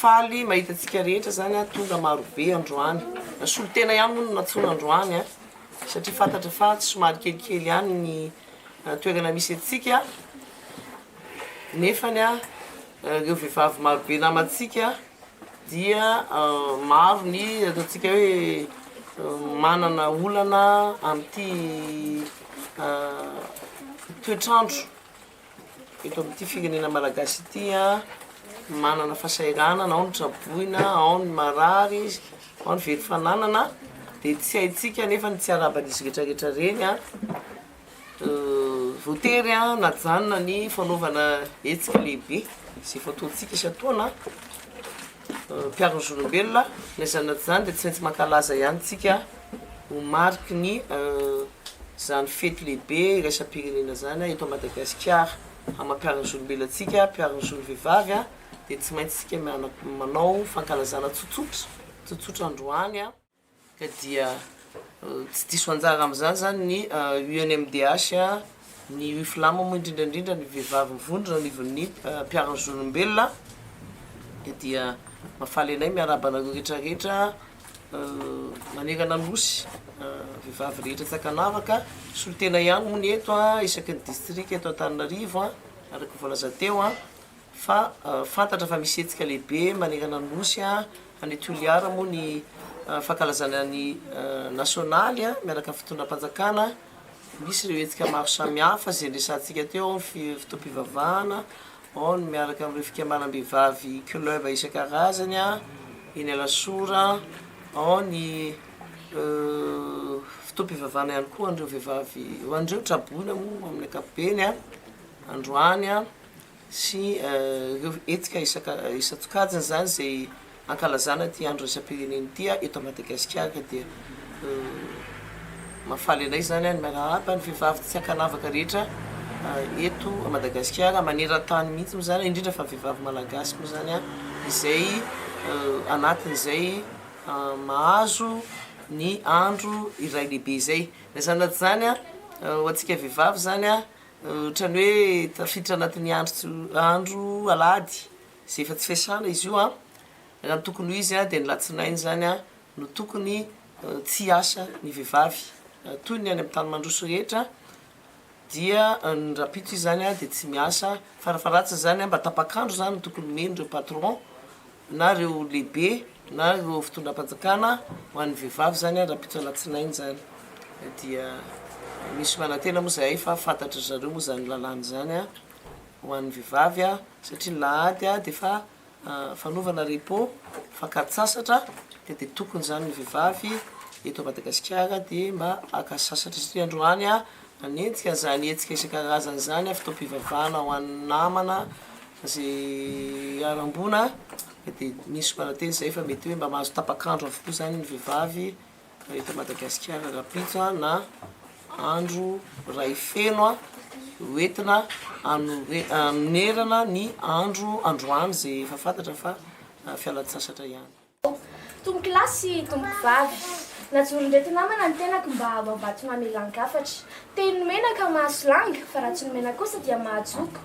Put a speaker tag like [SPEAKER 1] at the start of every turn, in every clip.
[SPEAKER 1] Faly mahita antsika rehetra zany a, tonga maro be androany, na solontena ihany moa no nantsoina androany a, satria fantatra fa somary kelikely ihany ny toerana misy antsika, nefany a ireo vehivavy maro be namantsika dia maro ny ataontsika hoe manana olana amin'ity toetr'andro Eto amin'ity firenena malagasy ity manana fahasahiranana, ao ny traboina, ao ny marary, ao ny very fananana, dia tsy haintsika anefa ny tsy araban'izy rehetrarehetra ireny a. Voatery a najanona ny fanaovana hetsika lehibe izay fataontsika isan-taona. mpiaro ny zolombelona, na izany na tsy izany dia tsy maintsy mankalaza ihany tsika ho mariky ny izany fety lehibe iraisam-pirenena izany eto Madagasikara. Hamankaran'ny zolombelona antsika, mpiaro ny zon'ny vehivavy dia tsy maintsy tsika manao fankalazana tsotsotra, tsotsotra androany. ka dia tsy diso anjara amin'izany izany ny UNMDH, ny UFLAM moa indrindra indrindra ny vehivavy mivondrona ao anivon'ny mpiaro ny zon'olombelona ka dia mahafaly anay miarahaba anareo rehetra rehetra manerana ny Nosy, vehivavy rehetra tsy ankanavaka, solontena ihany moa ny eto isaky ny distrika eto Antananarivo araka ny voalaza teo. Fa fantatra fa misy hetsika lehibe manerana ny Nosy any Toliara moa ny fankalazana ny nasionaly miaraka amin'ny fitondram-panjakana. Misy ireo hetsika maro samihafa izay niresahantsika teo, ao ny fotoam-pivavahana, ao ny miaraka amin'ireo fikambanam-behivavy club isan-karazany eny Alasora, ao ny fotoam-pivavahana ihany koa ho an'ireo vehivavy, ho an'ireo traboina moa amin'ny ankapobeny androany. sy ireo hetsika isan-tsokajiny izany izay ankalazana ity andro iraisam-pirenena ity eto Madagasikara dia mahafaly anay izany ary miarahaba ny vehivavy tsy ankanavaka rehetra eto Madagasikara maneran-tany mihitsy moa izany indrindra fa ny vehivavy malagasy moa izany izay anatin'izay mahazo ny andro iray lehibe izay na izany na tsy izany ho antsika vehivavy izany Ohatran'ny hoe tafiditra anatin'ny andro andro alahady izay efa tsy fiasana izy io an! Raha ny tokony ho izy dia ny latsinainy izany an no tokony tsy hiasa ny vehivavy toy ny any amin'ny tany mandroso rehetra dia ny rahampitso izy izany dia tsy miasa, fara faharatsiny izany mba tapak'andro izany no tokony omeny ireo patron na ireo lehibe na ireo fitondram-panjakana ho an'ny vehivavy izany an, rahampitso alatsinainy izany dia misy manantena moa izahay fa fantatry ry zareo moa izany lalàna izany an, ho an'ny vehivavy an, satria ny lahady an dia efa fanaovana repos, fakan-tsasatra, dia dia tokony izany ny vehivavy eto Madagasikara dia mba haka sasatra satria androany an manenjika izany hetsika isan-karazany izany an, fotoam-pivavahana ho an'ny namana, Izay harambona dia misy manantena izay fa mety hoe mba mahazo tapak'andro avokoa izany ny vehivavy eto Madagasikara rahampitso na andro iray feno ho entina hanoherana ny andro androany izay efa fantatra fa fialan-tsasatra ihany. Tompokolahy
[SPEAKER 2] sy tompokovavy, najoron'ireto namana ny tenako mba hanao vato mamelan-kafatra. Teny ny mena ka mahaso langa, fa raha tsy nomena kosa dia mahajoko.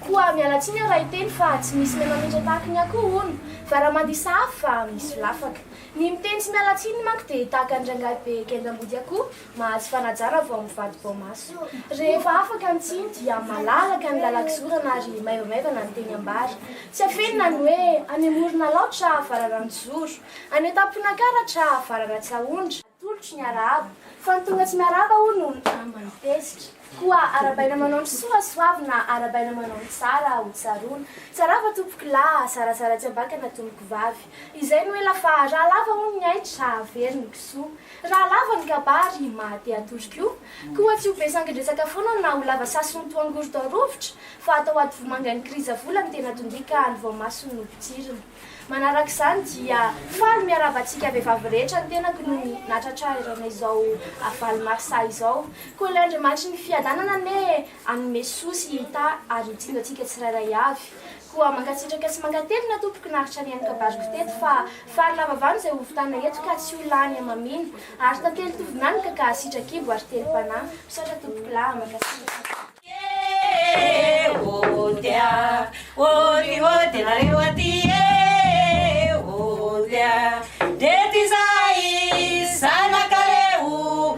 [SPEAKER 2] Koa miala tsiny aho raha hiteny fa tsy misy mena loatra tahaka ny akoho, hono, fa raha mandihy sahafa fa misolafaka. Ny miteny tsy miala tsiny manko dia tahaka ny rangahy be gendam-body akoho, Mahazo fanajana vao mivadi-baomaso. Rehefa afaka ny tsiny dia malalaka ny lalan-kizorana ary maivomaivana ny teny ambara. Tsy afenina ny hoe any Moronalao tra Vararanon-tizoro, any Antamponakara tra Vararatsahondra. Atolotro ny arahaba, fa ny tonga tsy miarahaba hono no lamba ny tezitra. Koa arabaina manao ny soa soavina, arabaina manao ny tsara ho tsaroana. Tsarava tompoko lahy, zarazara tsy ambakana tompoko vavy. Izay no ela fa raha lava hono ny aitra, averiny kisoa. Raha lava ny kabary maha te hatory koa, koa tsy ho be sangin-dresaka foana na ho lava sasiny toa angorodao rovitra, fa atao aty vomanga ny kriza vola no tena tondia ka any voamasony no potsirina. Manaraka izany dia faly miarahaba antsika vehivavy rehetra ny tenako noho ny nahatratrarana izao valo marsa izao. Koa ilay Andriamanitry ny fiadanana anie Hanome soa sy hita ary ho jinjo antsika tsirairay avy. Koa mankasitraka sy mankatelina tompoko naharitra nihaino kabariko teto fa fary lava vany izay hovitana eto ka tsy ho lany hamamiana ary tantely tovy mianoka ka hasitraka kibo ary telo panahy. Misaotra tompoko lahy. Mankasitraka. Ee ôte
[SPEAKER 3] a, ôte ôte nareo aty ee ôte a, ndreto izahay zanaka reo.